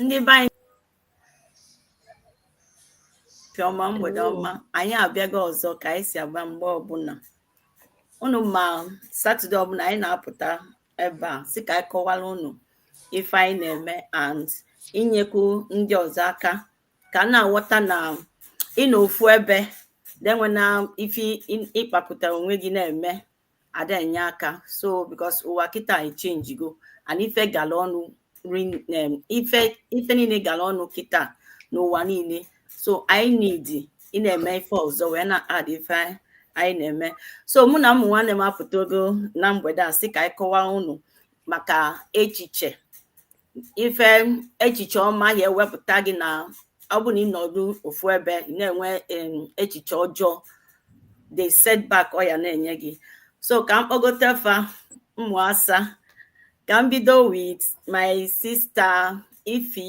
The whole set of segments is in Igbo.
ndị be anyị ọma mgbede ọma anyị abịago ọzọ ka anyị si abịa mgbe ọbụla unu ma satọde ọbụla anyị na-apụta ebe a sị ka anyị kọwara unu ife anyị na-eme and inyekwu ndị ọzọ aka ka a na-aghọta na ịnọ ofu ebe na-enwe na ife ịkpapụta onwe gị na-eme ada enye aka so because ụwa kịta echenjigo and ife gala ọnụ ife ife niile gala ọnụ kịta n'ụwa niile so anyị need ị na-eme ife ọzọ wee na-add ife anyị na-eme so mụ na ụmụ nwanne m apụtago na mgbede a sị ka anyị kọwaa unu maka echiche ife echiche ọma ya ewepụta gị na ọ bụ na ị nọdụ ofu ebe ị na-enwe em, echiche ọjọọ the setback ọ ya na-enye gị so ka m kpọgote fa ụmụ asa ka m bido with my sister ify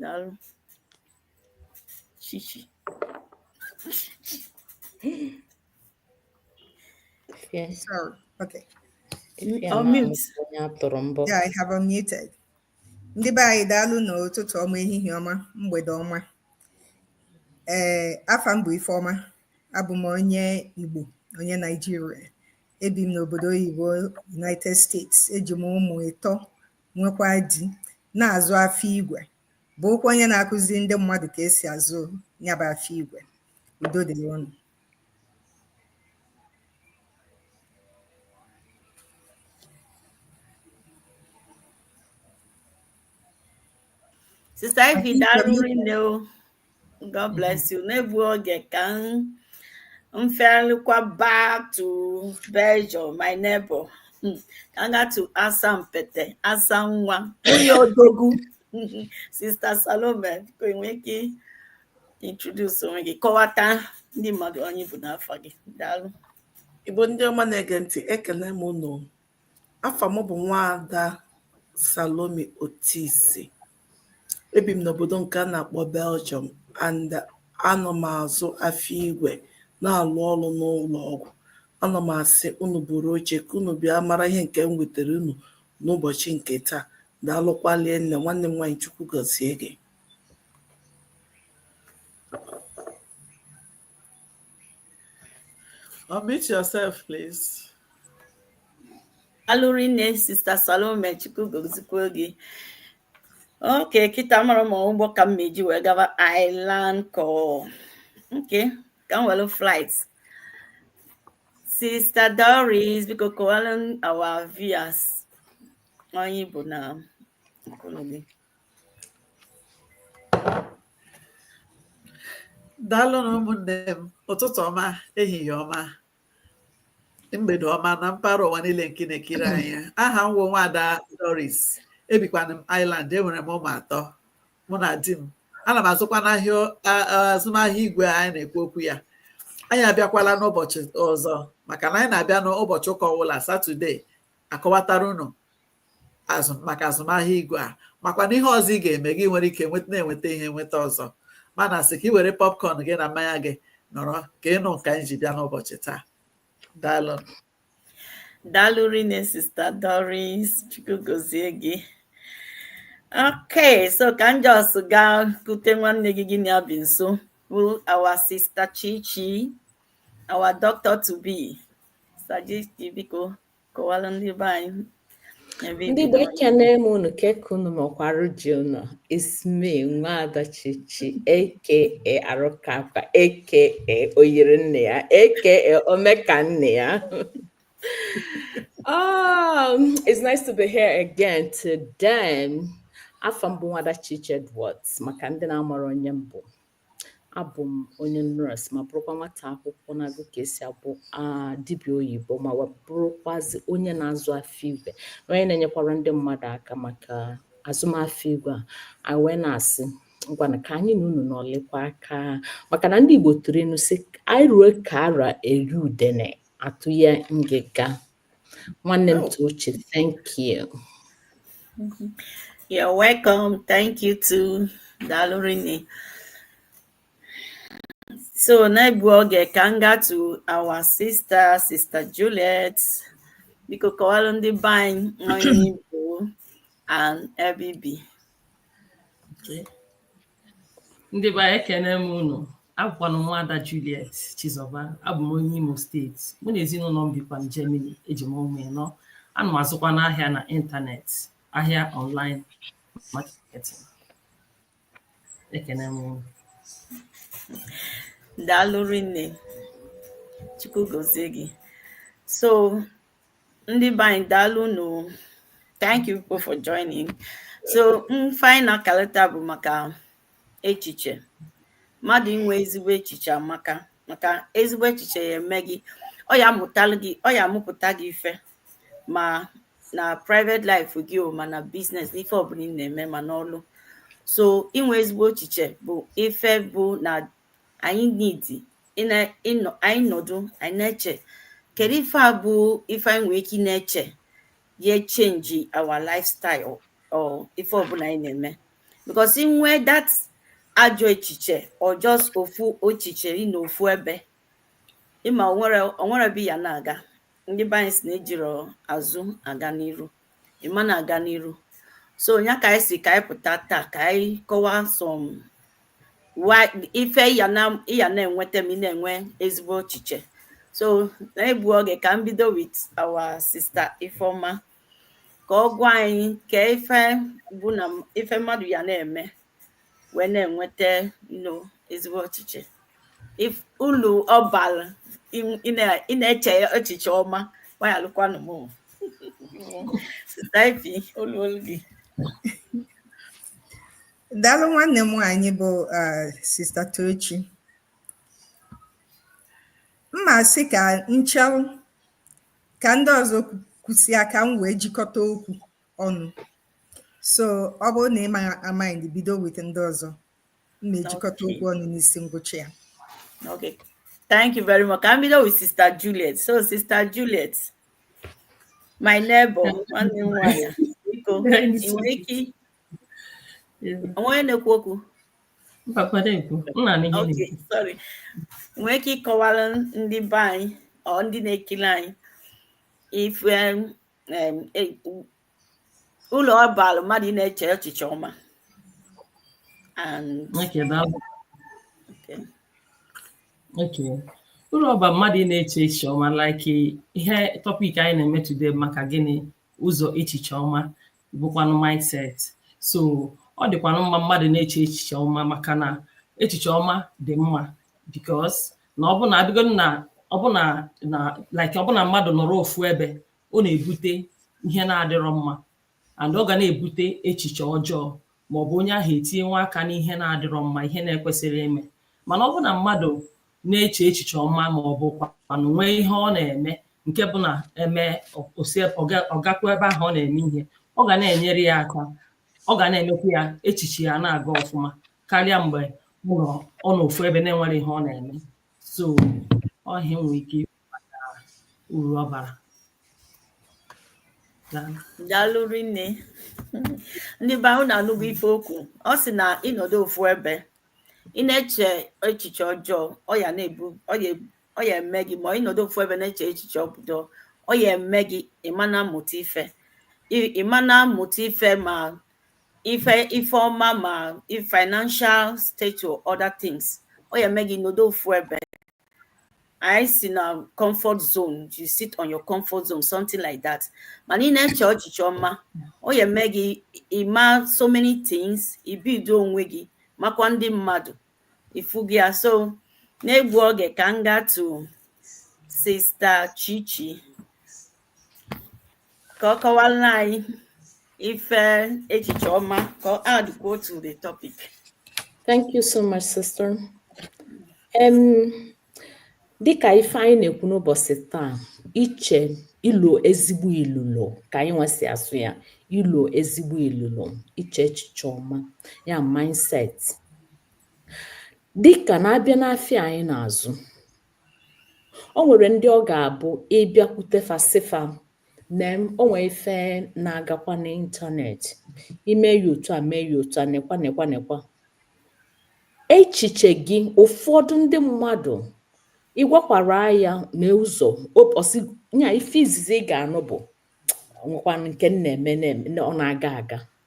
daalụ chichi Fie- Sorry. Okay. fie na Unmute. amụsị onye a tụrụ mbọ. Yeah, I have unmuted. Ndị be anyị daalụnụ ụtụtụ ọma ehihie ọma mgbede ọma. Ee, afa m bụ Ifeọma. Abụ m onye Igbo, onye Naijiria. Ebi m n'obodo oyibo United States. Eji m ụmụ ịtọ nwekwa di, na-azụ afịa igwe, bụrụkwa onye na-akụzi ndị mmadụ ka esi azụ nya bụ afịa igwe. Udo dịrị unu. Sista Ify, daalụ rinne o. God bless you. N'egbughị oge ka m felukwa back to Belgium, my neighbor. Hmm. Ka m gaa to Asampete, Asa nwa, nwunye odogwu. Sister Salome, biko ị nwee ike introduce onwe gị, kọwata ndị mmadụ onye ị bụ na afa gị. Daalụ. Igbo ndị ọma na-ege ntị ekele m unu Afà mụ bụ̀ nwaada Salome Otisi. E bìm n'òbòdò ǹkè a nà-àkpọ Belgium and a nọ̀ m̀ àzụ afịa igwè na-àlụ ọlụ n'ụlọ̀ ọgwụ̀. A nọ̀ m̀ àsị unù buru oche kà unù bịa mara ihe ǹkè m wètèrè unù n'ụbọ̀chị ǹkè taa. Daalụkwa rinnè, nwanne m nwaanyị Chukwu gọzie gị. Unmute yourself, please. Daalụ rinne, Sister Salome, Chukwu gozikwo gị. Okay, kịta amarọ m ma ụgbọ ka m ma-eji wee gaba Ireland ka ọ. Okay, ka m welu flight. Sister Doris, biko kọwalụ our viewers onye ị bụ na nkụlụ gị. daalụnụ ụmụnne m ụtụtụ ọma ehihie ọma mgbede ọma na mpaghara ụwa niile nke na-ekiri anyị aha m bụ nwada Doris ebikwanụ m Ireland enwere m ụmụ atọ mụ na di m ana m azụkwanụ ahịa azụmahịa igwe anyị na-ekwu okwu ya anyị abịakwala n'ụbọchị ọzọ maka na anyị na-abịa n'ụbọchị ụka ọbụla satọde akọwatara unu azụm maka azụmahịa igwe a makwa na ihe ọzọ ị ga-eme gị nwere ike nweta na-enweta ihe nweta ọzọ mana sị ka ị were popcorn gị na mmanya gị nọrọ ka ị nụ nke anyị ji bịa n'ụbọchị taa daalụ daalụ rinne sista Doris chukwu gozie gị okay so ka m just gaa kute nwanne gị gị na ya bi nso bụ our sister Chichi our doctor to be sista Chichi biko kọwara ndị be anyị ebe ndị ibi be n'ọnya. ekene m unu kee ka unu mee kwa arụ dị unu it's me nwaada chichi aka arụkapa aka oyiri nne ya aka omeka nne ya um, it's nice to be here again today afa m bụ nwada chichi edwards maka ndị na-amarọ onye m bụ abụ m onye nọọsụ ma bụrụkwa nwata akwụkwọ na-agụ ka esi abụ dibịa oyibo ma bụrụkwazị onye na-azụ afịa igwe onye na-enyekwara ndị mmadụ aka maka azụmafịa igwe a anyị wee na-asị ngwana ka anyị na unu nọlịkwa aka maka na ndị Igbo tụrụ inu sị anyị ruo ka ara eri udene atụ ya ngịga nwanne m Tochi thank you you're welcome thank you too daalụ rinne so n'egbughị oge ka m gaa to our sister sister Juliet biko kọwalụ ndị be anyị onye ị bụ and ebe i bi okay ndị be anyị ekene m unu abụkwanụ m nwada Juliet Chizọba abụ m onye Imo steeti mụ na ezinụlọ m bikwa na Germany eji m ụmụ ịnọ ana m azụkwanụ ahịa na ịntanetị ahịa online marketing ekene m unu daalụ rinne chukwu gozie gị so ndị be anyị daalụ nụ thank you people for joining so ife anyị na-akalịta bụ maka echiche mmadụ inwe ezigbo echiche amaka maka ezigbo echiche ya eme gị ọ ya amụtalụ gị ọ ya amụpụta gị ife ma na private life gị o ma na business n'ife ọbụla ị na-eme ma n'ọlụ so inwe ezigbo echiche bụ ife bụ na anyị need anyị nọdụ anyị na-eche kedu ife a bụ ife anyị nwere ike ị na-eche ya change our lifestyle or ife ọbụla anyị na-eme because inwe that ajọ echiche or just ofu echiche ịnọ ofu ebe ị ma o nwere o nwerọ ebe ị ya na-aga ndị be anyị sị na ejirọ azụ aga n'iru ị ma na-aga n'iru so nya ka anyị sị ka anyị pụta taa ka anyị kọwaa some ife ị ya na-enweta ma ị na-enwe ezigbo echiche so na-egbu oge ka m bido with our sister Ifeoma ka ọ gwa anyị kee ife bụ na ife mmadụ ya na-eme wee na-enweta nnọọ ezigbo echiche ife ulu ọ balụ ị na-eche echiche ọma gbanyelụkwanụ m sister Ify olu olu gị daalụ nwanne m nwaanyị bụ sister Tochi m ma sị ka m chelụ ka ndị ọzọ kwusịa ka m wee jikọta okwu ọnụ so ọ bụrụ na ị ma mind bido with ndị ọzọ m na-ejikọta okwu ọnụ n'isi ngwụcha ya okay thank you very much ka m bido with sister Juliet so sister Juliet my neighbor nwanne m nwanyị biko ị nwere ike onye na-ekwu okwu nwee ike ịkọwara ndị be anyị or ndị na-ekiri anyị ife um, ulu ọ balụ mmadụ ịna-eche echiche ọma ulu ọ balụ mmadụ ịna-eche echiche ọma like ihe topic anyị na-eme today maka gịnị ụzọ echiche ọma bụkwanụ mindset so ọ dịkwanụ mma mmadụ na-eche echiche ọma maka na echiche ọma dị mma because na ọ bụ na abịago na ọ bụ na na like ọ bụ na mmadụ nọrọ ofu ebe ọ na-ebute ihe na-adịrọ mma and ọ ga na-ebute echiche ọjọọ ma ọ bụ onye ahụ etinyewe aka n'ihe na-adịrọ mma ihe na-ekwesirọ ime mana ọ bụ na mmadụ na-eche echiche ọma ma ọ bụ kwanụ nwee ihe ọ na-eme nke bụ na eme o si ọ gakwa ebe ahụ ọ na-eme ihe ọ ga na-enyere ya aka ọ ga na-emekwa ya echiche ya na-aga ọfụma karịa mgbe ọ nọ ọ nọ ofu ebe na-enwere ihe ọ na-eme so ọ ihe m nwere ike ikwu maka uru ọ bara Daalụ. daalụ rinne ndị be anyị unu anụgo ife o kwu ọ sị na ị nọdụ ofu ebe ị na-eche echiche ọjọọ ọ ya na-ebu ọ ya ebu- ọ ya eme gị ma ị nọdụ ofu ebe na-eche echiche ọbụdọ ọ ya eme gị ị ma na-amụta ife Ị- ị ma na-amụta ife ma ife ife ọma ma financial state or other things ọ ya eme gị nọdụ ofu ebe anyị sị na comfort zone you sit on your comfort zone something like that mana ị na-eche echiche ọma ọ ya eme gị ị ma so many things ibido onwe gị makwa ndị mmadụ ifu gị ya so na-egbu oge ka m gaa to sista Chichi ka ọ kọwaara anyị ife echiche ọma ka ọ add go to the topic Thank you so much, sister. Um, dịka ife anyị na-ekwu n'ụbọchị taa iche ilo ezigbo ilulo ka anyịnwa si asụ ya ilo ezigbo ilulo iche echiche ọma ya mindset dịka na-abịa n'afịa anyị na-azụ o nwere ndị ọ ga-abụ ị bịakwute fa sị fa na o nwee ife na-agakwa n'ịntanetị i mee ya otu a mee ya otu a nekwa nekwa nekwa echiche gị ụfọdụ ndị mmadụ ị gwakwara ya n'ụzọ ya ife izizi ị ga-anụ bụ nwekwanụ nke m na-eme ọ na-aga aga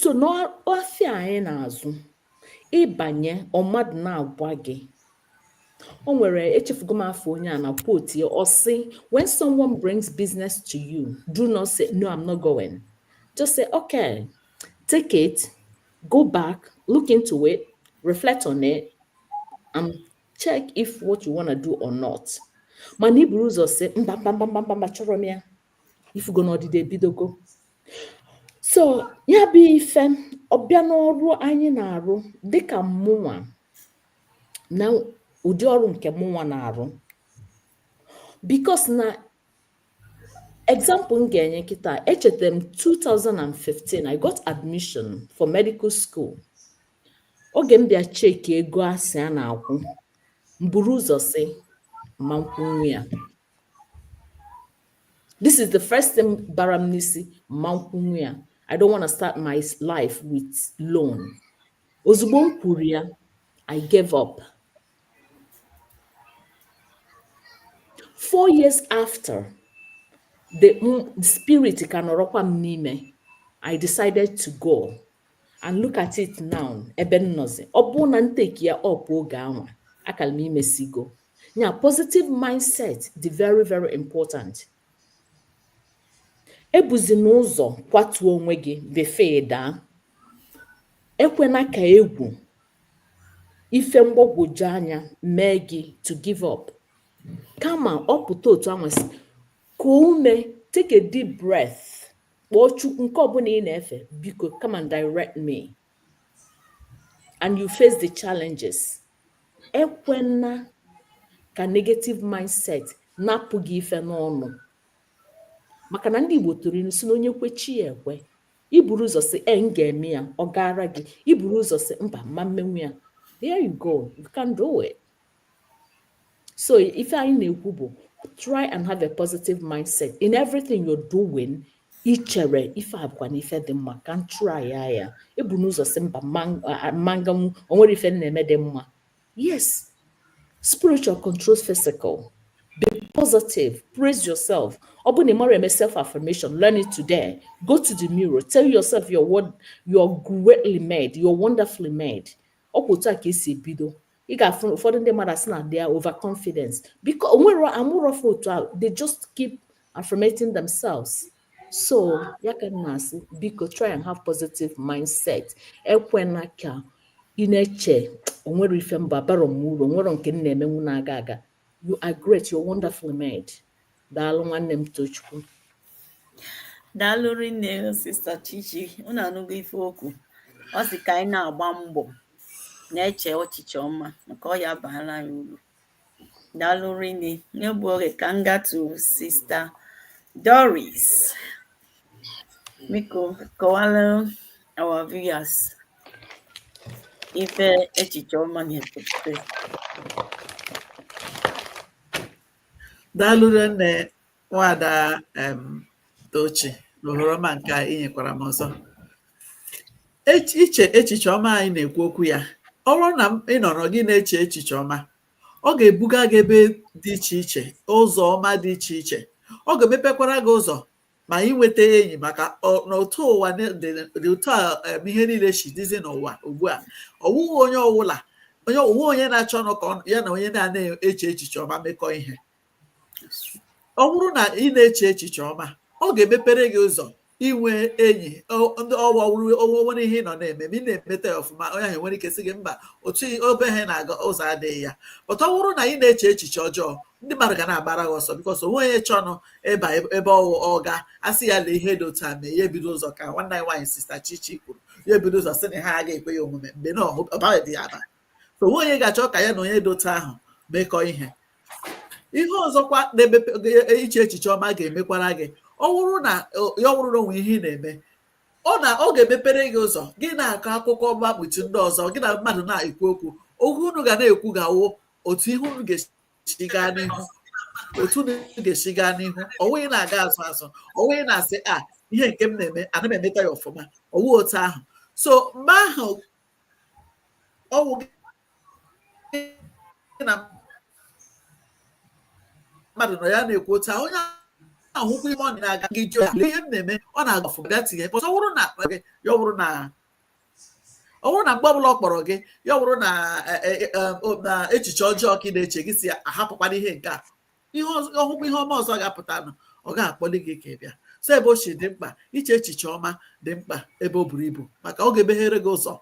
so n'afịa anyị na-azụ ị banye ọ mmadụ na-agwa gị o nwere echefugo m afa onye a na quote ya ọ sị when someone brings business to you do not say no i'm not going just say okay take it go back look into it reflect on it and check if what you want to do or not mana i buru ụzọ sị mba mba mba mba mba achọrọ m ya ị fụgo na ọdịda ebidogo so ya bụ ife ọ bịa n'ọrụ anyị na-arụ dịka mụnwa na ụdị ọrụ nke mụnwa na-arụ because na example m ga-enye kịta echetara m 2015 i got admission for medical school oge m bịa cheki ego a sị a na-akwụ m buru ụzọ sị m ma akwụnwu ya This is the first thing bara m n'isi mma nkwụnwu ya I don't want to start my life with loan ozugbo m kwuru ya I gave up four years after the spirit ka nọrọkwa m n'ime I decided to go and look at it now ebe m nọzi ọ bụrụ na m take ya up oge anwa akara m imesigo nya positive mindset dị very very important ebuzina ụzọ kwatuo onwe gị before ị daa ekwena ka egwu ife mgbagwoju anya mee gị to give up kama ọ pụta otu anwa si ka ume take a deep breath kpọọ chukwu nke ọbụla ị na-efe biko come and direct me and you face the challenges ekwena ka negative mindset napụ gị ife n'ọnụ maka na ndị Igbo tụrụ ilu sị na onye kwe chi ya ekwe i buru ụzọ sị ee m ga-eme ya ọ gaara gị i buru ụzọ sị mba mma mmenwu ya there you go you can do it so ife anyị na-ekwu bụ try and have a positive mindset in everything you're doing i chere ife a bụkwa na ife dị mma ka m try ya ya ebuna ụzọ sị mba mma nganwu onwere ife na-eme dị mma yes spiritual control physical be positive praise yourself ọ bụ na ị marọ eme self affirmation learn it today go to the mirror tell yourself you're wo- you're greatly made you're wonderfully made ọ bụ otu a ka esi ebido ị ga-afụ ụfọdụ ndị mmadụ asị na they are overconfidence because onwere amụrọ fa otu ahụ they just keep affirmating themselves so ya ka m na-asị biko try and have positive mindset ekwena ka ị na-eche onwere ife mba bara m uru onwere nke m na-emenwu na-aga aga you are great you're wonderfully made daalụ nwanne m tochukwu daalụ rinne sista chichi unu anụgo ife o kwu ọ sị ka anyị na-agba mbọ na-eche echiche ọma maka ọ ya-abara anyị uru daalụ rinne n'egbu oge ka m gatu sista doris biko kọwara our viewers ife echiche ọma na-epụta daalụ rinne nwada em tochi na ohere ọma nke a inyekwara m ọzọ Ech- iche echiche ọma anyị na-ekwu okwu ya ọ bụrụ na m- ị nọrọ gị na-eche echiche ọma Ọ ga-ebuga gị ebe dị iche iche, ụzọ ọma dị iche iche. Ọ ga-emepekwara gị ụzọ ma inweta enyi maka na otu ụwa dị otu a ihe niile si dịzi n'ụwa ugbu a ọwụghị onye ọwụla onye onwe onye na-achọnụ ka ya na onye na-anaghị eche echiche ọma mekọọ ihe ọ bụrụ na ị na-eche echiche ọma ọ ga-emepere gị ụzọ inwe enyi ndị ọwụ ọwụrụ o nwere ihe ị nọ na-eme ma ị na-emeta ya ọfụma onye ahụ nwere ike sị gị mba otu ebe ha na-aga ụzọ adịghị ya but ọ bụrụ na ị na-eche echiche ọjọọ ndị mmadụ ga na-agbara gị ọsọ because onwe onye chọnụ ịba ebe ọwụ ọ ga-asị ya lee ihe dị otu a mee ya ebido ụzọ ka nwanne anyị nwaanyị sista chichi kwuru ya ebido ụzọ sị na ihe a agaghị ekwe ya omume mgbe na ọ baghịdị ya aba so onwe onye ga-achọ ka ya na onye dị otu ahụ mekọ ihe ihe ọzọkwa na-emepe iche echiche ọma ga-emekwara gị ọ bụrụ na ya ọ bụrụ na o nwe ihe ị na-eme ọ na ọ ga-emepere gị ụzọ gị na-akọ akụkọ ọma kpuchi ndị ọzọ gị na mmadụ na-ekwu okwu okwu unu ga na-ekwu ga-awụ otu ihe unu ga-esi gaa n'ihu otu unu ga-esi gaa n'ihu ọwụ ị na-aga azụ azụ ọwụ ị na-asị a ihe nke m na-eme ana m emeta ya ọfụma ọwụ otu ahụ so mgbe ahụ ọwụ gị na mmadụ nọ ya na-ekwu otu a onye ahụkwa ihe ọ na-aga gị jụọ ya ihe m na-eme ọ na-aga ọfụma tinye pọsọ ọ bụrụ na akpa gị ya ọ bụrụ na ọ bụrụ na mgbe ọbụla ọ kpọrọ gị ya ọ bụrụ na e, e, e, echiche ọjọọ ka ị na-eche gị sị a hapụkwa na ihe nke a ihe ọ hụkwa ihe ọma ọzọ ga-apụtanụ ọ gaghị akpọli gị ka ị bịa so ebe o si dị mkpa iche echiche ọma dị mkpa ebe o buru ibu maka ọ ga-emeghere gị ụzọ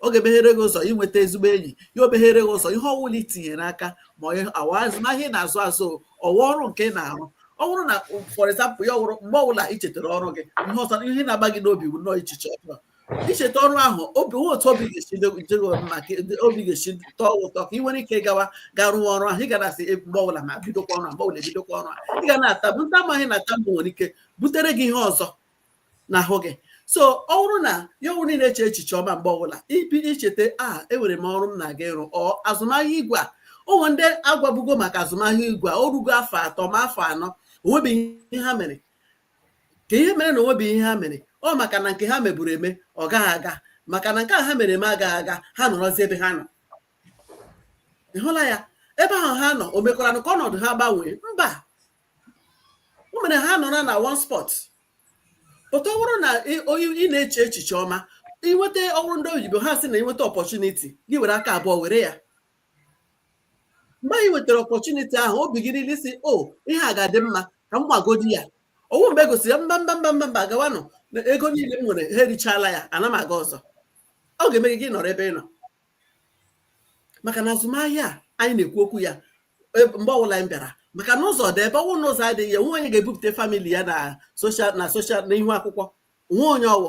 ọ ga-emeghere gị ụzọ inweta ezigbo enyi ya emeghere gị ụzọ ihe ọwụla i tinyere aka ma ọwụ azụmahịa ị na-azụ azụ ọwụ ọrụ nke ị na-arụ ọ bụrụ na for example ya ọwụrụ mgbe ọbụla i chetara ọrụ gị ihe ọsọ ihe na-agba gị n'obi bụ nnọọ echiche ọjọọ icheta ọrụ ahụ obi nwe otu obi ga-esi dị gị mma ka dị- obi ga-esi tọọ gị ụtọ ka ị nwere ike gawa ga rụọ ọrụ ahụ ị ga na-asị "Eh, mgbe ọbụla ma bidokwa ọrụ a mgbe ọbụla ebidokwa ọrụ a ị ga na-atamu ndị amaghị na atamu nwere ike butere gị ihe ọzọ n'ahụ gị so ọ bụrụ na ya ọbụrụ na ị na-eche echiche ọma mgbe ọbụla ibi icheta a enwere m ọrụ m na-aga ịrụ ọ azụmahịa igwe a o nwe ndị a gwabugo maka azụmahịa igwe a o rugo afọ atọ ma afọ anọ onwebeghị ihe ha mere ka ihe mere na onwebeghị ihe ha mere ọ maka na nke ha meburu eme ọ gaghị aga maka na nke a ha mere eme agaghị aga ha nọrọzi ebe ha nọ ị hụla ya ebe ahụ ha nọ o mekwaranụ ka ọnọdụ ha gbanwee mba o mere ha nọrọ na one spot but ọ bụrụ na ị- onye ị na-eche echiche ọma i nweta ọwụrụ ndị oyibo ha asị na i nweta opportunity gị were aka abụọ were ya mgbe ahụ ị nwetara opportunity ahụ obi gị niile sị o oh, ihe a ga-adị mma ka m bagodi ya ọwụ mgbe e gosiri ya mba mba mba mba mba gawanụ na ego niile m nwere ha erichala ya ana m aga ọzọ ọ ga-eme gị nọrọ ebe ị nọ maka na azụmahịa anyị na-ekwu okwu ya e, mgbe ọbụla anyị bịara maka na ụzọ dị ebe ọwụ n'ụzọ adịghị ya o nwe onye ga-ebupụta family ya na social na social na ihu akwụkwọ nwe onye ọwụ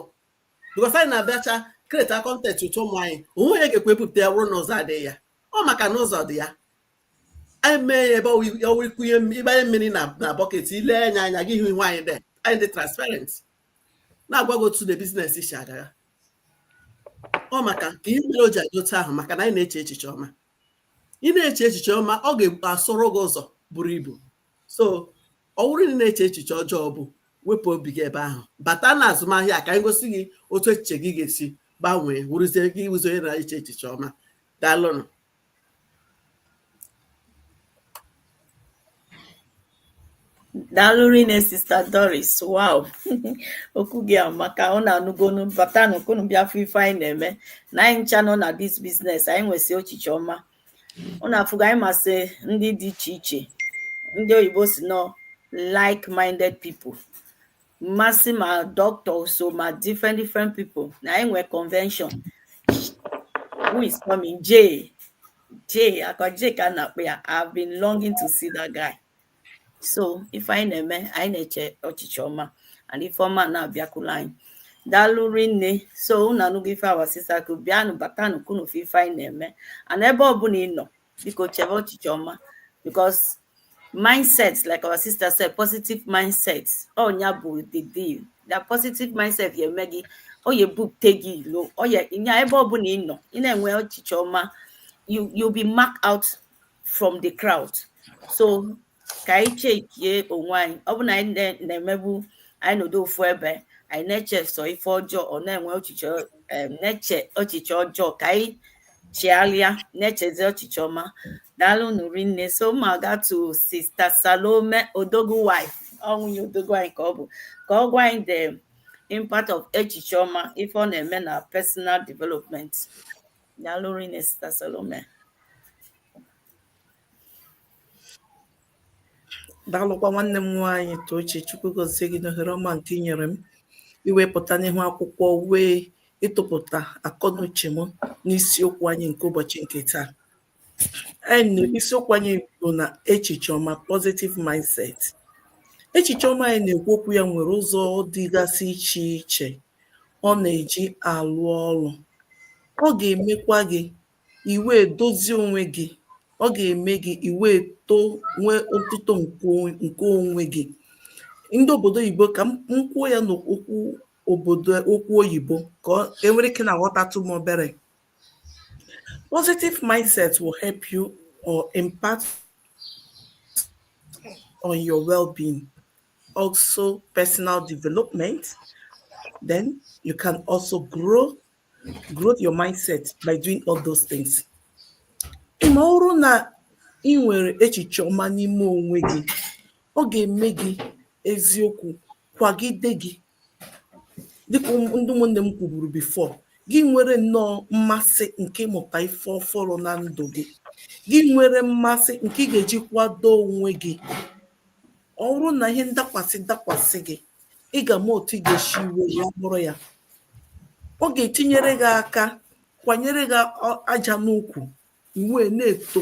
bikọs anyị na-abịacha kreta kọntent ụtọ ụmụ anyị o nwe onye ga-ekwe ebupụta ya bụrụ na ụzọ adịghị ya ọ maka na ụzọ dị ya anyị mee ya ebe ọwụ ikunye ịgbanye mmiri na bọket ile anya anya gị hụ ihu anyị dị anyị dị transparent na-agwa gị otu na biznes si aga ọ maka ka ihe mere o ji adị otu ahụ maka na anyị na-eche echiche ọma ị na-eche echiche ọma ọ ga-asụrụ gị ụzọ buru ibu so ọ wụrụ na ị na-eche echiche ọjọọ bụ wepụ obi gị ebe ahụ bata na azụmahịa a ka anyị gosi gị otu echiche gị ga-esi gbanwee wụrụzie gị ịwụzi onye na-eche echiche ọma daalụnụ daalụ rinne sista doris wow okwu gị amaka ụnụ anụgonụ batanụ ka unu bịa fụ ife anyị na-eme na anyị ncha nọ na dis biznes anyị nwesị echiche ọma ụnụ afụgo anyị masị ndị dị iche iche ndị oyibo sị na ọ like minded people masị ma doctor so ma different different people na anyị nwee convention who is coming Jay Jay akwa Jay ka a na-akpọ ya I've been longing to see that guy so ife anyị na-eme anyị na-eche echiche ọma and ife ọma na-abịakwula anyị daalụ rinne so unu anụgo ife our sister kwu bịanụ batanụ ka unu fụ ife anyị na-eme and ebe ọbụla ị nọ biko chebe echiche ọma because mindset like our sister said positive mindset ọ nya bụ the deal that positive mindset ya eme gị ọ ya ebupụte gị ilo ọ ya nya ebe ọbụla ị nọ ị na-enwe echiche ọma you'll be mark out from the crowd so ka anyị chekie onwe anyị ọ bụ na anyị na-emebu anyị nọdụ ofu ebe anyị na-eche sọ ife ọjọọ ọ na-enwe echiche na-eche echiche ọjọọ ka anyị chighalịa na-echezi echiche ọma daalụnụ rinne so ma ga to sista salome odogwu wife ọ nwunye odogwu anyị ka ọ bụ ka ọ gwa anyị the impact of echiche ọma ife ọ na-eme na personal development Daalụ rinne Sista Salome. daalụkwa nwanne m nwaanyị Tochi Chukwu gozie gị n'ohere ọma nke i nyere m iwepụta n'ihu akwụkwọ wee ịtụpụta akọnuche m n'isiokwu anyị nke ụbọchị nke taa anyị isiokwu anyị bụ na echiche ọma positive mindset echiche ọma anyị na-ekwu okwu ya nwere ụzọ dịgasị iche iche ọ nà-èji àlụ ọlụ, ọ gà-èmekwa gị ì wèe dozie onwe gị, ọ gà-ème gị ì wèe too nwee otuto ǹkè onwe gị. Ndị òbòdo oyìbo kà m kwuo ya nà okwu okwu oyìbo kà e nwere ike nà-àghọtatụ m obere. Positive mindset will help you or impact on your well-being. also personal development. Then you can also grow, grow your mindset by doing all those things. Ị ma, ọ wụrụ na ị nwere echiche ọma n'ime onwe gị, ọ ga-eme gị eziokwu kwagide gị dịkà ndị ụmụ̀nnè m kwùbùrù before gị nwere nnọọ mmasị ǹkè ịmụ̀tà ife ọfụrụ na ndụ̀ gị gị nwere mmasị ǹkè ị gà-èji kwado ònwe gị ọ wụrụ nà ihe ndakwàsị dakwàsị gị ị gà-àma òtù ị gà-èshi we ya buru ya ọ gà-ètinyere gị aka kwànyere gị aja n'ukwù ị wee na-eto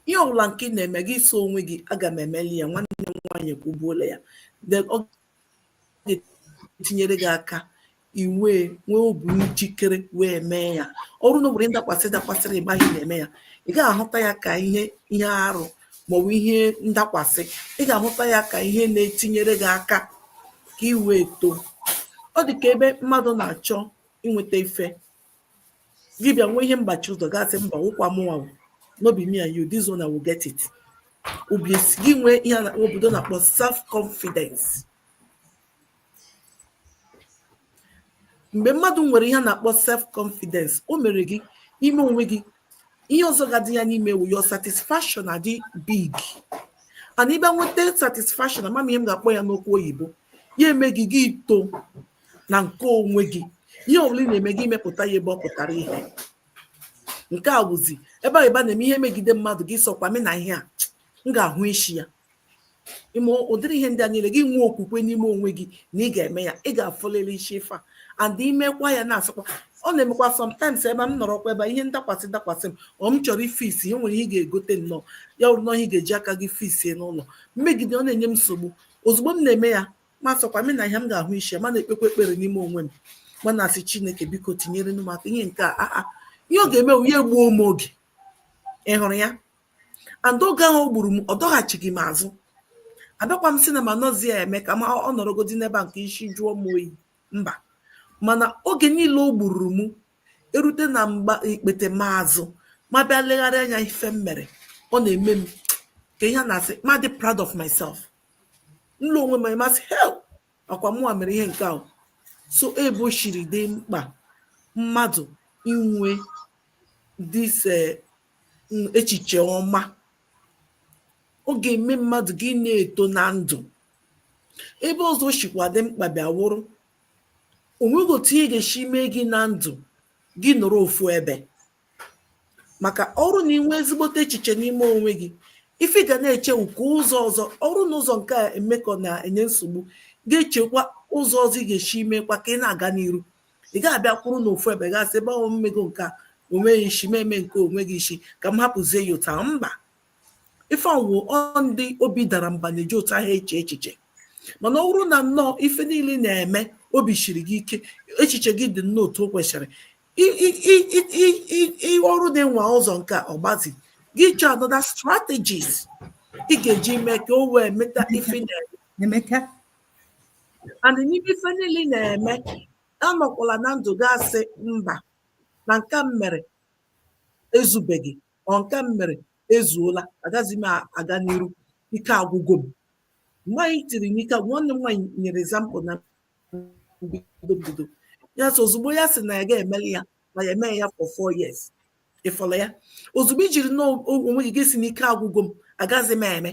ihe ọbụla nke ị na-eme gị sị onwe gị aga m emeli ya nwanne m nwaanyị kwubuola ya ọ ga-etinyere gị aka ị wee nwee obi njikere wee mee ya ọ wụrụ na ọ bụrụ ndakwasị dakwasịrị gị mgbe ị na-eme ya ị gaghị ahụta ya ka ihe ihe arụ maọbụ ihe ndakwasị ị ga-ahụta ya ka ihe na-etinyere gị aka ka ị wee too ọ dị ka ebe mmadụ na-achọ inweta ife gị bịa nwee ihe mgbachi ụzọ gị asị mba ọ wụkwa mụwa no be me and you this one I will get it obi esi gị nwee ihe na obodo na-akpọ self confidence mgbe mmadụ nwere ihe a na-akpọ self confidence o mere gị ime onwe gị ihe ọzọ ga-adị ya n'ime awụ your satisfaction adị big and ị bịa nweta satisfaction ama m ihe m ga-akpọ ya n'okwu oyibo ya eme gị gị ito na nke onwe gị ihe ọbụla ị na-eme gị imepụta ya ebe ọ pụtara ihe nke a wụzi ebe a na-eme ihe megide mmadụ gị sịkwa men ihe a m ga-ahụ isi ya i mee ụdịrị ihe ndị a niile gị nwee okwukwe n'ime onwe gị na ị ga-eme ya ị ga-afụlịlị isi ife a and i mekwa ya na-asịkwa ọ na-emekwa sometimes ebe m nọrọkwa ebe ihe ndakwasị dakwasị m ọ m chọrọ ifix ihe nwere ihe ị ga-egote nnọọ ya wụrụ na ihe ị ga-eji aka gị fixie n'ụlọ m megide ọ na-enye m nsogbu ozugbo m na-eme ya ma sịkwa men ihe a m ga-ahụ ishi ya ma na-ekpekwa ekpere n'ime onwe m ma na-asị chineke biko tinyere m aka ihe nke a a ihe ọ ga-eme ya egbuo m oge ị hụrụ ya and oge ahụ o gburu m ọ dọghachighị m azụ abịakwa m sị na m anọzi ya eme ka ma ọ nọrọgodi n'ebe a nke isi jụọ m oyi mba mana oge niile o gburu m erute na mgbe ikpete m azụ ma bịa legharị anya ife m mere ọ na-eme m ka ihe a na-asị ma dị proud of myself m lee onwe m m asị hee ọkwa mụnwa mere ihe nke ahụ so ebe o siri dị mkpa mmadụ inwe this eh, echiche ọma ọ ga-eme mmadụ gị na-eto na ndụ ebe ọzọ o shikwa dị mkpa bịa wụrụ onweghị otu ihe ga-esi mee gị na ndụ gị nọrọ ofu ebe maka ọ bụrụ na inwe ezigbote echiche n'ime onwe gị ife ị ga na-eche nke ụzọ ọzọ ọ bụrụ na ụzọ nke a emekọ na-enye nsogbu gị echekwa ụzọ ọzọ ị ga-esi mekwa ka ị na-aga n'iru ị ga-abịa kwụrụ na ofu ebe gị asị ebe ahụ m mego nke a o nweghị isi m mee nke o nweghị isi ka m hapụzie ya otu a mba ife ọ wụ ọ ndị obi dara mba na-eji otu ahụ eche echiche mana ọ bụrụ na nnọọ ife niile na-eme obi siri gị ike echiche gị dị nnọọ otu o kwesịrị ọ bụrụ dị nwa ụzọ nke ọgbazi gị chọọ another strategies ị ga-eji mee ka o wee meta ife ị na-eme and n'ime ife niile ị na-eme anọkwala na ndụ gị asị mba na nke m mere ezubeghị or nke m mere ezuola agaghịzi m aga n'iru ike agwụgo m nwaanyị tiri n'ike nwanne m nwaanyị nyere example na bido bido ya so ozugbo ya sị na ya ga-emeli ya na ya emee ya for four years ị fụla ya ozugbo i jiri na onwe gị asị na ike agwụgo m agaghịzi m eme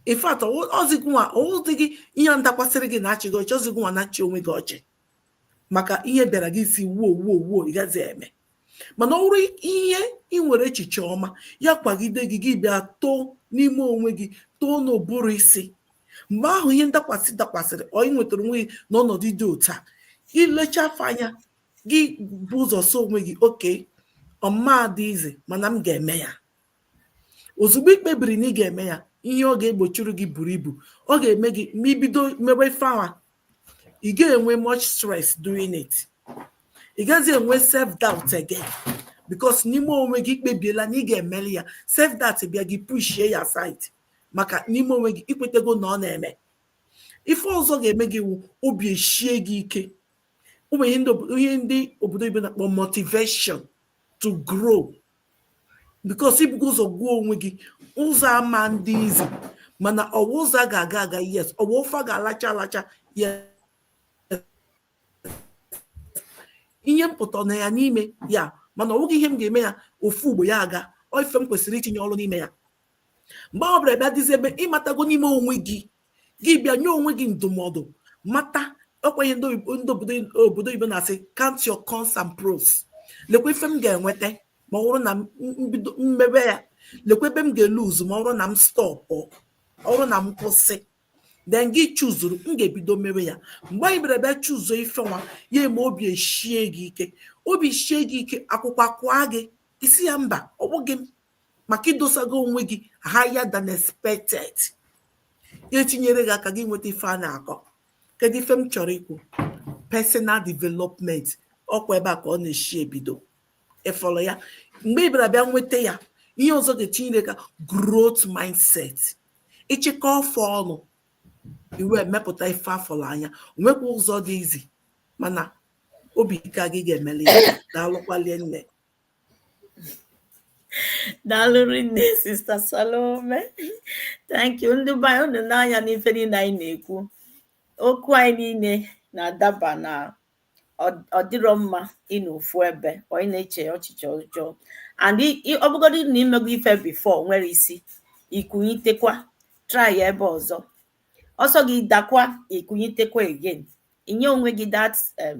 in fact ọ zi gị nwa ọ wụzi gị ihe ndakwasịrị gị na-achị gị ọchị ọ zi gị nwa na-achị onwe gị ọchị maka ihe bịara gị sị woo woo woo ị gaghịzi eme mana ọ wụrụ ihe ị nwere echiche ọma ya kwagide gị gị bịa too n'ime onwe gị too n'ụbụrụ isi mgbe ahụ ihe ndakwasị dakwasịrị or ị nwetara onwe gị n'ọnọdụ dị otu a i lechaa ife ahụ anya gị bu ụzọ sị onwe gị okay ọ ma adị easy mana m ga-eme ya ozugbo ị kpebiri na ị ga-eme ya ihe ọ ga-egbochiri gị buru ibu ọ ga-eme gị ma i bido mewe ife ahụ ị ga-enwe much stress doing it ị gaghịzi enwe self doubt again because n'ime onwe gị ị kpebiela na ị ga-emeli ya self doubt bịa gị pushie ya aside maka n'ime onwe gị i kwetego na ọ na-eme ife ọzọ ga-eme gị wụ obi eshie gị ike ọ wụ ihe ndị obodo oyibo na-akpọ motivation to grow because i bugo ụzọ gwa onwe gị ụzọ a ma adị easy mana ọ wụ ụzọ a ga-aga aga yes ọ wụ ofe a ga-alacha alacha yes ihe mpụta na ya n'ime ya mana ọ bụghị ihe m ga-eme ya ofu ugbo ya aga ọ ife m kwesịrị itinye ọrụ n'ime ya mgbe ọ bụla bịa dịzi ebe ị matago n'ime onwe gị gị bịa nye onwe gị ndụmọdụ mata ọ kwa ihe ndị obodo oyibo na-asị count your cons and pros lekwa ife m ga-enweta ma ọ bụrụ na m bido mebe ya lekwa ebe m ga-eluzu ma ọ bụrụ na m stop ọ bụrụ na m kwụsị then gị chuzuru m ga-ebido mewe ya mgbe anyị bịara bịa chuzuo ife nwa ya eme obi eshie gị ike obi shie gị ike akwụkwọ akụọ gị ị sị ya mba ọ bụghị m maka idosago onwe gị higher than expected etinyere gị aka gị nweta ife a na-akọ kedu ife m chọrọ ikwu personal development ọkwa ebe a ka ọ na-eshi ebido ị fụrụ ya mgbe ị bịara bịa nweta ya ihe ọzọ ga-etinyere aka growth mindset ịchịkọ ọfọ ọnụ iwe emepụta ife a fụrụ anya nwekwa ụzọ dị izi mana obi ike gị ga-emeli ya daalụkwa rinne daalụ rinne sister Salome thank you ndị be anyị unu n'anya n'ife niile anyị na-ekwu okwu anyị niile na-adaba na ọ dịrọ mma ịnọ ofu ebe onye na-eche echiche ọjọọ and ọ bụgodị na imego ife before o nwerọ isi ikunyitekwa try ebe ọzọ ọ sọ gị dakwa ikunyitekwa again inye onwe gị that um,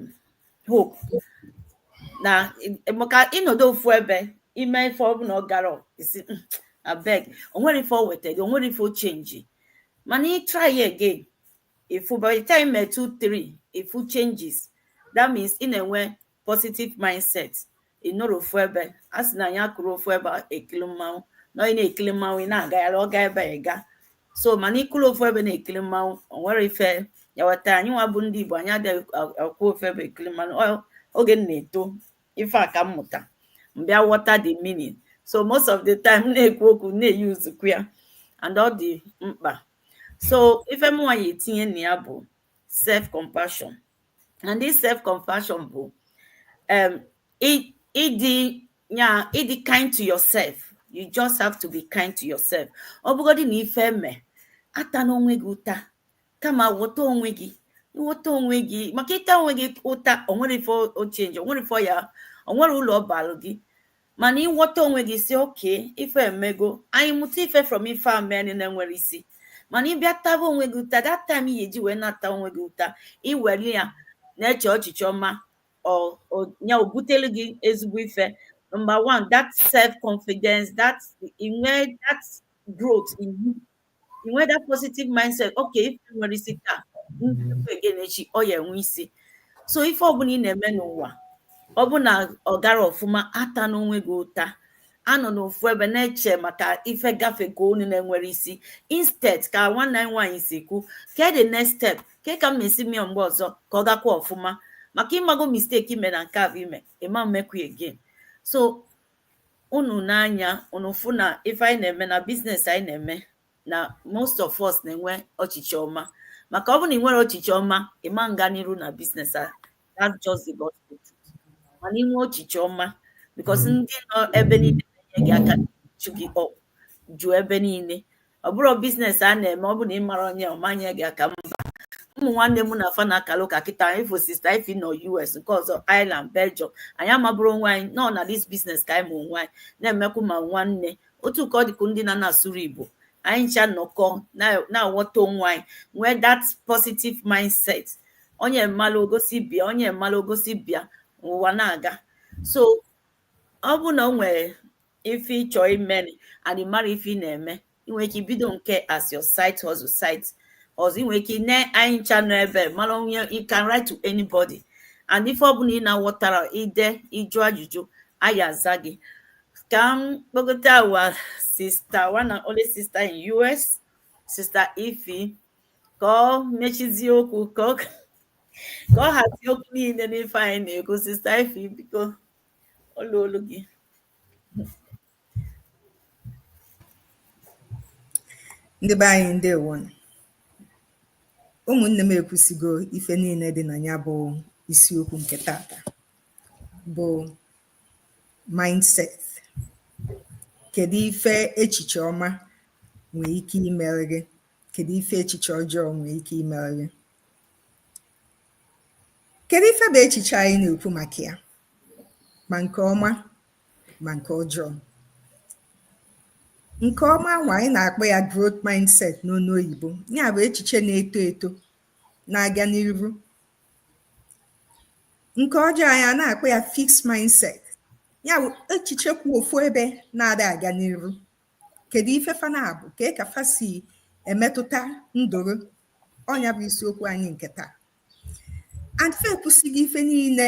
hope na maka ịnọdụ ofu ebe ime ife ọ bụ na ọ garọ isi hmm, abeg o nwerọ ife o weta gị o nwerọ ife ọ change mana ị try again ị fụ by the time i me two three ị fụ changes that means ị na-enwe positive mindset ị nọrọ ofu ebe a sị na anyị akwụrọ ofu ebe ekili mmanwụ na onye na-ekili mmanwụ ị na-agagharị ọ gaa ebe ị gaa so mana ị kwụrụ ofu ebe na-ekili mmanwụ o nwerọ ife ya weta anyị nwa bụ ndị Igbo anyị adịghị akwụ ofu ebe ekili mmanwụ Ọ- oge m na-eto ife a ka m mụta m bịa ghọta the meaning so most of the time m na-ekwu okwu m na-eyuzukwa ya and ọ dị mkpa so ife mụnwa ya-etinye na ya bụ self compassion and this self compassion bụ um, ịdị nya ịdị kind to yourself you just have to be kind to yourself ọ bụgodị na ife mee atana onwe gị ụta kama ghọta onwe gị ghọta onwe gị maka ịta onwe gị ụta o nwerọ ife ọ change o nwerọ ife ọ ya o nwerọ ulu ọ baalụ gị mana ịghọta onwe gị sị okay ife emego anyị mụta ife from ife a mee na-enwerọ isi mana ịbịa taba onwe gị ụta that time ị ya-eji wee na-ata onwe gị ụta i were ya na-eche echiche ọma ọ- ọ- ya-ebutere gị ezigbo ife number one that self confidence that inwe that growth in you i nwee that positive mindset okay ife enwerọ isi taa again echi ọ ya enwe isi so ife ọbụla ị na-eme n'ụwa ọ bụ na ọ garọ ọfụma atana onwe gị ụta anọna ofu ebe na-eche maka ife gafe ka unu na-enwerọ isi instead ka nwanne anyị nwaanyị si kwu ke the next step ke ka m ya-esi mee mgbe ọzọ ka ọ gakwa ọfụma maka ịmago mistake ime na nke a bụ ime ịma emekwu again so unu n'anya unu fụ na ife anyị na-eme na business anyị na-eme na most of us na-enwe echiche ọma maka ọ bụrụ na i nwerọ echiche ọma ị ma nga n'iru na business a that's just the gospel truth. mana i nwee echiche ọma because ndị nọ ebe niile na-enye gị aka chụ gị up jụọ ebe niile ọ bụrọ business a na-eme ọ bụ na ị marọ onye ọ ma nye gị aka mba ụmụ nwanne m na fa na-akara ụka kịta ị fụ sister Ify nọ US nke ọzọ ireland belgium anyị amabụrọ onwe anyị nọ na this business ka anyị ma onwe anyị na-emekwu ma nwanne otu ka ọ dịkwu ndị na na-asụrọ igbo anyị ncha nọkọ na-aghọta onwe anyị nwee that positive mindset onye malụ o gosi ibe ya onye malụ o gosi ibe ya ụwa na-aga so ọ bụ na o nwere ife ị chọ ime and ị marọ ife ị na-eme ị nwere ike ibido nke a as your side hustle side hustle ị nwere ike ne anyị ncha nọ ebe mara onye you can write to anybody and ife ọbụla ị na-aghọtarọ i dee ị jụọ ajụjụ anyị aza gị ka m kpọgote our sister one and only sister in US sister Ify ka ọ mechizie okwu ka ọ hazie okwu niile n'ife anyị na-ekwu sister Ify biko o luolu gị ndị be anyị ndewo ụmụnne m ekwusigo ife niile dị na ya bụ isiokwu nke tata bụ mindset kedu ife echiche ọma nwee ike imere gị kedu ife echiche ọjọọ nwee ike imere gị Kedu ife bụ echiche anyị na-ekwu maka ya ma nke ọma ma nke ọjọọ? Nke ọma nwa anyị na-akpọ ya growth mindset n'onu oyibo ya bụ echiche na-eto eto na-aga n'iru. Nke ọjọọ anyị a na-akpọ ya fixed mindset ya bụ echiche kwụ ofu ebe na-ada aga n'iru. Kedu ife fa na-abụ? Kee ka fa si emetụta ndụ gị ọ nya bụ isiokwu anyị nke taa and fa ekwusigo ife niile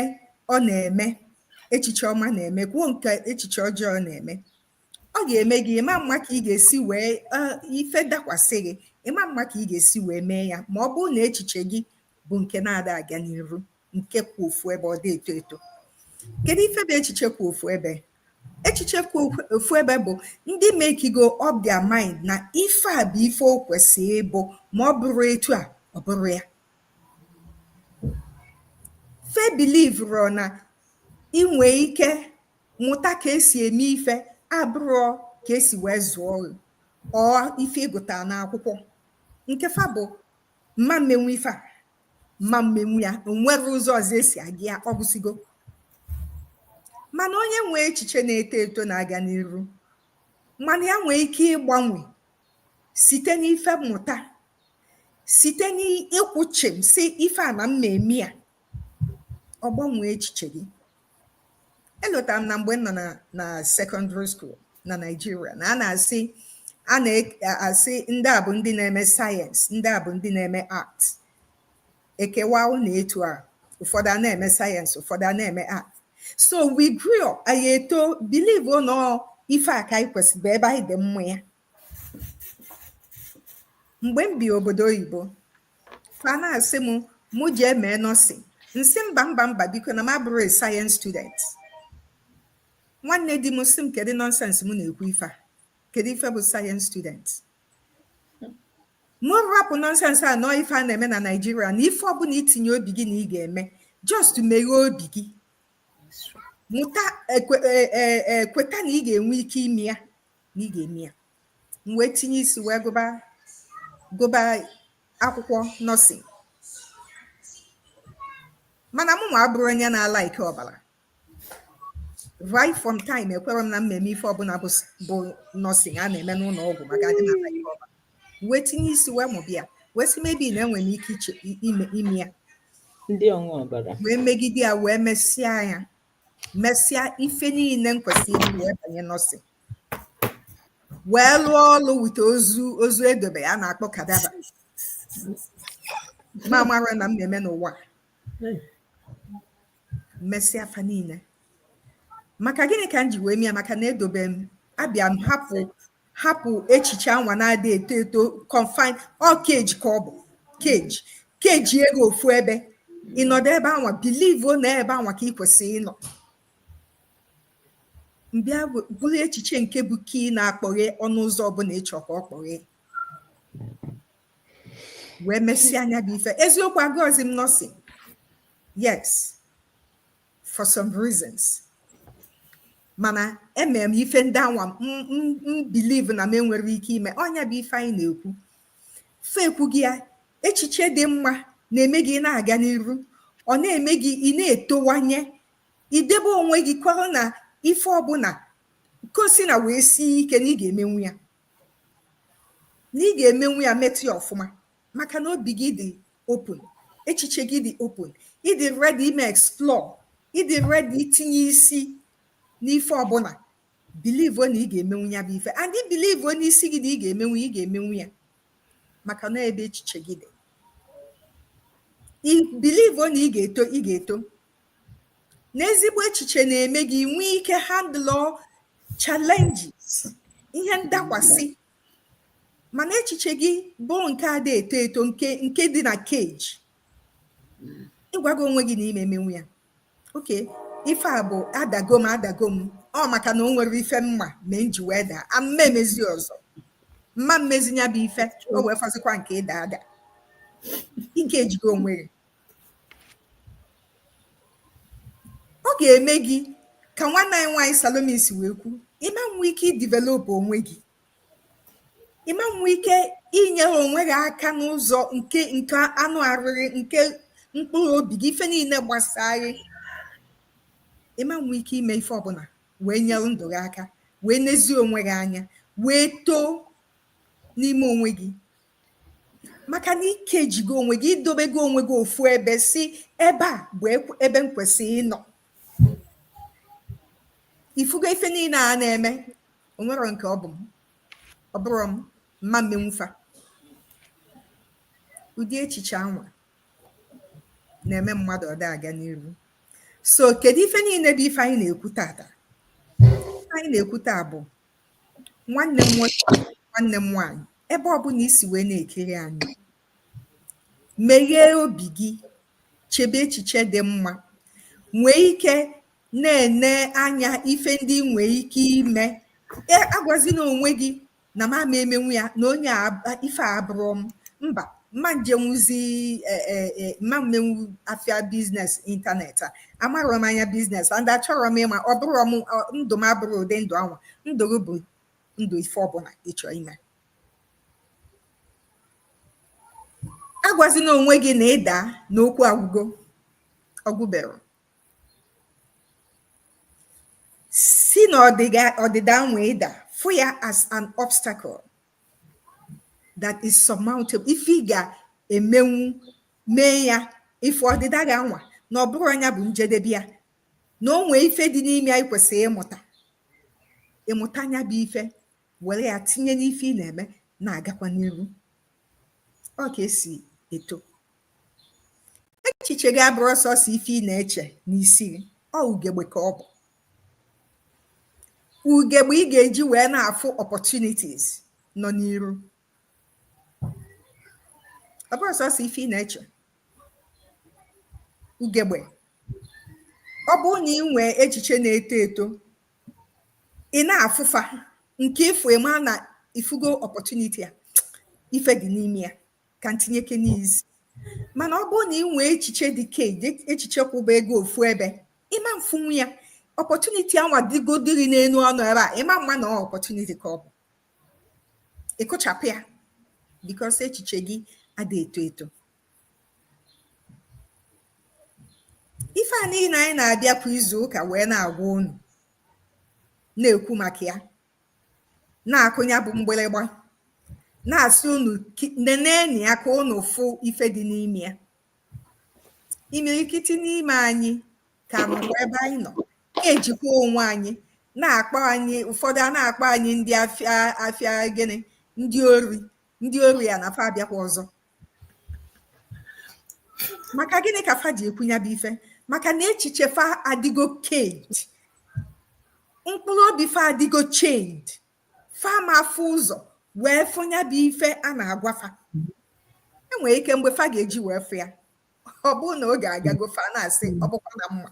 ọ na-eme echiche ọma na-eme kwuo nke echiche ọjọọ na-eme ọ ga-eme gị ị ma ama ka ị ga-esi wee ife dakwasị gị ị ma ama ka ị ga-esi wee mee ya ma ọ bụrụ na echiche gị bụ nke na-ada aga n'iru nke kwụ ofu ebe ọ dị eto eto kedu ife bụ echiche kwụ ofu ebe echiche kwụ ofu ebe bụ ndị makego up their mind na ife a bụ ife o kwesịrị ịbụ ma ọ bụrọ etu a ọ bụrọ ya fa believerọ na i nwee ike mụta ka esi eme ife abụrọ ka esi wee zụọ or ife ị gụta n'akwụkwọ nke fa bụ m ma emenwu ife a m ma emenwu ya o nwerọ ụzọ ọzọ esi aga ya ọ gwụsigo mana onye nwee echiche na-eto eto na-aga n'iru ma na ya nwee ike ịgbanwe site n'ife mmụta site n'ịkwụ chịm sị ife a na m ma-eme ya ọ gbanwee echiche gị elotara m na mgbe m nọ na na secondary school na nigeria na a na-asị a na-asị ndị a bụ ndị na-eme science ndị a bụ ndị na-eme art e kewaa ụnụ etu a ụfọdụ a na-eme science ụfọdụ a na-eme art so we grew up anyị eto believe na ọ ife a ka anyị kwesịrị bụ ebe anyị dị mma ya mgbe m bi obodo oyibo fa na-asị m mụ jee mee nursing m sị mba mba mba biko na m abụrọ a science student nwanne di m sị m kedu nonsense m na-ekwu ife a kedu ife bụ science student mụ rapụ nonsense a na ọ ife a na-eme na nigeria na ife ọbụna i tinye obi gị na ị ga-eme just meghee obi gị mụta kweta na ị ga-enwe ike ime ya na ị ga-eme ya m wee tinye isi wee gụba akwụkwọ nursing mana mụ nwa abụrọ onye na-a like ọbala right from time ekwerọ m na m ma-eme ife ọbụna bụ nursing a na-eme n'ụnọ ọgwụ maka adị m a like ọbala wee tinye isi wee mụba ya wee sị maybe na enwere m ike ime ya m wee megide ya wee mesịa ya mesịa ife niine m kwesịrị ime wee banye nursing wee lụọ ọlụ with ozu ozu e dobe a na-akpọ cadaver m amarọ na m na-eme n'ụwa mesịa fa niine maka gịnị ka m ji wee mee ya maka na edobe m abịa m hapụ hapụ echiche anwa na-adị eto eto confine ọ kee gị ka ọ bụ kee gị kechie gị ofu ebe ị nọdụ ebe anwa believe na ebe anwa ka ị kwesịrị ịnọ m bịa buru echiche nke bụ key na-akpọghe ọnụ ụzọ ọbụna ị chọ ka ọ kpọghe wee mesịa nya bụ ife eziokwu agụrọzi m nursing yes for some reasons mana emere m ife ndị anwa m believe na m enwerọ ike ime ọ nya bụ ife anyị na-ekwu fe ekwu gị ya echiche dị mma na-eme gị ị na-aga n'iru ọ na-eme gị ị na-etowanye i debe onwe gị kwere na ife ọbụna ka o sina wee sie ike na ị ga-emenwu ya na ị ga-emenwu ya meta ya ọfụma maka na obi gị dị open echiche gị dị open ịdị ready ime explore ịdị ready itinye isi n'ife ọbụla believe na ị ga-emenwu ya bụ ife and believe n'isi gị na ị ga-emenwu ị ga-emenwu ya maka na ebe echiche gị dị believe na ị ga-eto ị ga-eto n'ezigbo echiche na-eme gị nwee ike handle challenges ihe ndakwasị mana echiche gị bụ nke ada eto eto nke nke dị na cage ịgwago onwe gị na ịma emenwu ya okay ife a bụ adago m adago m ọ maka na o nwere ife mma ma m ji wee daa ama m emezi ọzọ mma mmezi nya bụ ife o wee fọzikwa nke ịda ada ikejigo onwe gị ọ ga-eme gị ka nwanne anyị nwaanyị Salome si wee kwu ịma nwe ike idevelopụ onwe gị ịma nwe ike inyere onwe gị aka n'ụzọ nke nke anụ arụ gị nke mkpụrụ obi gị ife niile gbasaa gị ịma nwe ike ime ife ọbụla wee nyere ndụ gị aka wee nezie onwe gị anya wee too n'ime onwe gị maka na ikejigo onwe gị idobego onwe gị ofu ebe sị ebe a bụ ebe m kwesịrị ịnọ ifugo ife niile a na-eme onwerọ nke ọ bụ m ọ bụrọ m mma mmenwu fa ụdị echiche anwa na-eme mmadụ ọda aga n'iru so kedu ife niile bụ ife anyị na-ekwu tata anyị na-ekwu taa bụ Nwanne m nwoke, nwanne m nwaanyị, ebe ọ bụla i si wee na-ekiri anyị, meghee obi gị, chebe echiche dị mma, nwee ike na-ene anya ife ndị i nwee ike ime. E, agwazina onwe gị na m ama emenwu ya na onye ife a abụrọ m. Mba, mma njenwuzi eh, eh, eh, mma mmenwu afịa business internet a amarọ m anya business and achọrọ m ịma ọ bụrọ m ọ- ndụ m abụrọ ụdị ndụ anwa ndụ gị bụ ndụ ife ọbụla ịchọ ime agwazina onwe gị na ịda na okwu agwụgo ọ gwụberọ si na ọdịga- ọdịda anwa ịda fụ ya as an obstacle that is surmountable ife ị ga-emenwu mee ya ife ọdịda gị anwa na ọ bụrọ nya bụ njedebe ya na o nwee ife dị n'ime ya ikwesịrị ịmụta ịmụta nya bụ ife were ya tinye n'ife ị na-eme na-agakwa n'iru ọ ka esi eto echiche gị abụrọ sọsọ ife ị na-eche n'isi gị ọ ugegbe ka ọ bụ ugegbe ị ga-eji wee na-afụ opportunities nọ n'iru ọ bụ sọsọ ife ị na-eche ugegbe ọ bụrụ na ị nwee echiche na-eto eto ị na-afụfa nke ị fụ ị ma na ị fụgo opportunity a ife dị n'ime ya ka m tinyekene isi mana ọ bụrụ na ị nwee echiche dị caged echiche kwụbago ofu ebe ị ma mfụnwu ya opportunity anwa dịgodiri n'enu ọnụ ebe a ị ma mma na opportunity ka ọ bụ ị kụchapụ ya because echiche gị adị eto eto ife a niile anyị na-abịa kwa izu ụka wee na-agwa unu na-ekwu maka ya na-akụ nya bụ mgbịrịgba na-asị unu nenenụ ya ka unu fụ ife dị n'ime ya imirikiti n'ime anyị ka nọkwa ebe anyị nọ ejikwa onwe anyị na-akpọ anyị ụfọdụ a na-akpọ anyị ndị afịa afịa gịnị ndị ori ndị ori a na fa abịakwa ọzọ maka gịnị ka fa ji ekwu nya bụ ife maka na echiche fa adịgo caged mkpụrụ obi fa adịgo chained fa ma afụ ụzọ wee fụ nya bụ ife a na-agwa fa e nwere ike mgbe fa ga-eji wee fụ ya ọ bụrụ na oge agago fa na-asị ọ bụkwa na m ma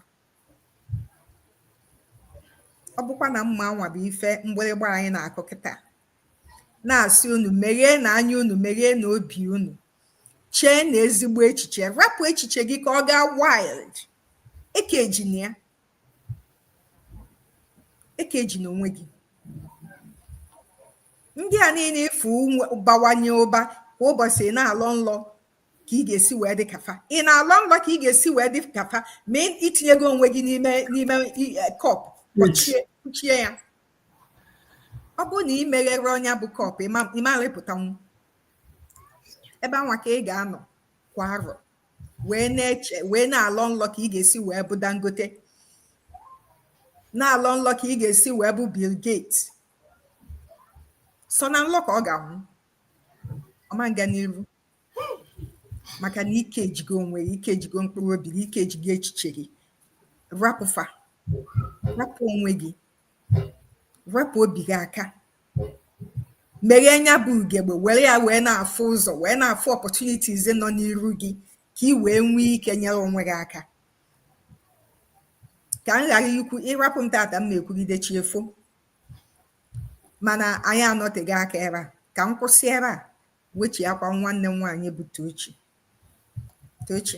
ọ bụkwa na m ma nwa bụ ife mgbịrịgba anyị na-akụ kịta na-asị unu megheenụ anya unu megheenụ obi unu cheenụ ezigbo echiche rapụ echiche gị ka ọ gaa wild ekejina ya ekejina onwe gị ndị a niile ị fụ bawanye ụba kwa ụbọsị ị na-alọ nlọ ka ị ga-esi wee dị ka fa ị na-alọ nlọ ka ị ga-esi wee dị ka fa ma i tinyego onwe gị n'ime cup kpuchie ya ọ bụrụ na i megherọ nya bụ cup ị ma rịpụtanwu ebe anwa ka ị ga-anọ kwa arọ wee na-eche wee na-alọ nlọ ka ị ga-esi wee bụ Dangote na-alọ nlọ ka ị ga-esi wee bụ Bill Gates sọ na nlọ ka ọ ga-anwụ ọ ma nga n'iru maka na i kejigo onwe gị i kejigo mkpụrụ obi gị i kejigo echiche gị rapụ fa rapụ onwe gị rapụ obi gị aka meghee nya bụ ugegbe were ya wee na-afụ ụzọ wee na-afụ opportunities nọ n'iru gị ka ị wee nwee ike nyere onwe gị aka ka m ghara ikwu ị rapụ m taata m na-ekwugide chi efo mana anyị anọteghị aka ebe a ka m kwụsị ebe a wechiakwa nwanne m nwaanyị bụ Tochi Tochi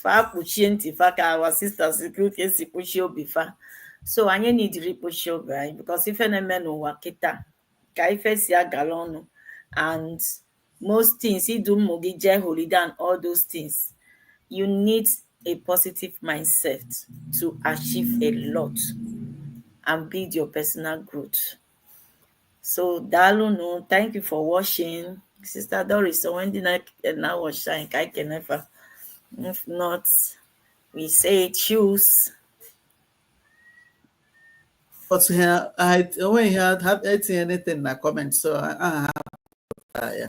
fa kpuchie ntị fa ka our sisters ka ka esi kpuchie obi fa so anyị nidiri ikpuchi obi anyị because ife na-eme n'ụwa kịta ka ife si agala ọnụ and most things idu ụmụ gị jee holiday and all those things you need a positive mindset to achieve a lot and build your personal growth so dalunu thank you for watching sister doris so when did i now watch time i can never if not we say choose but here i only had had anything in the comment so i, I have uh, yeah.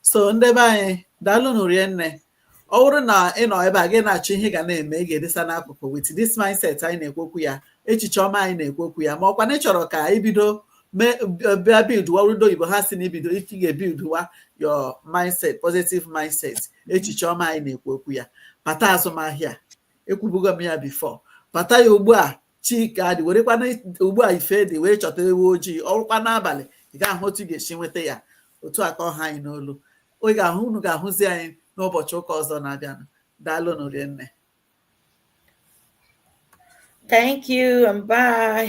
so ndebe anyị daalụ nụ rie nne ọ bụrụ na ị nọ ebe a gị na-achọ ihe ga na-eme ị ga-edesa n'akụkụ with this mindset anyị na-ekwu okwu ya echiche ọma anyị na-ekwu okwu ya ma ọkwa na ị chọrọ ka ibido mee bịa buildwa ndị oyibo ha sị na ibido ị ga-ebuildwa your mindset positive mindset echiche ọma anyị na-ekwu okwu ya bata azụmahịa ekwubugo m ya before bata ya ugbu a chi ka dị werekwanụ ugbu a ife dị wee chọta ewu ojii o rukwa n'abalị ị ga-ahụ otu ị ga-esi nweta ya otu a ka ọ ha anyị n'olu ị ga-ahụ unu ga-ahụzi anyị n'ụbọchị ụka ọzọ na-abịanụ daalụnụ rinne Thank you and bye.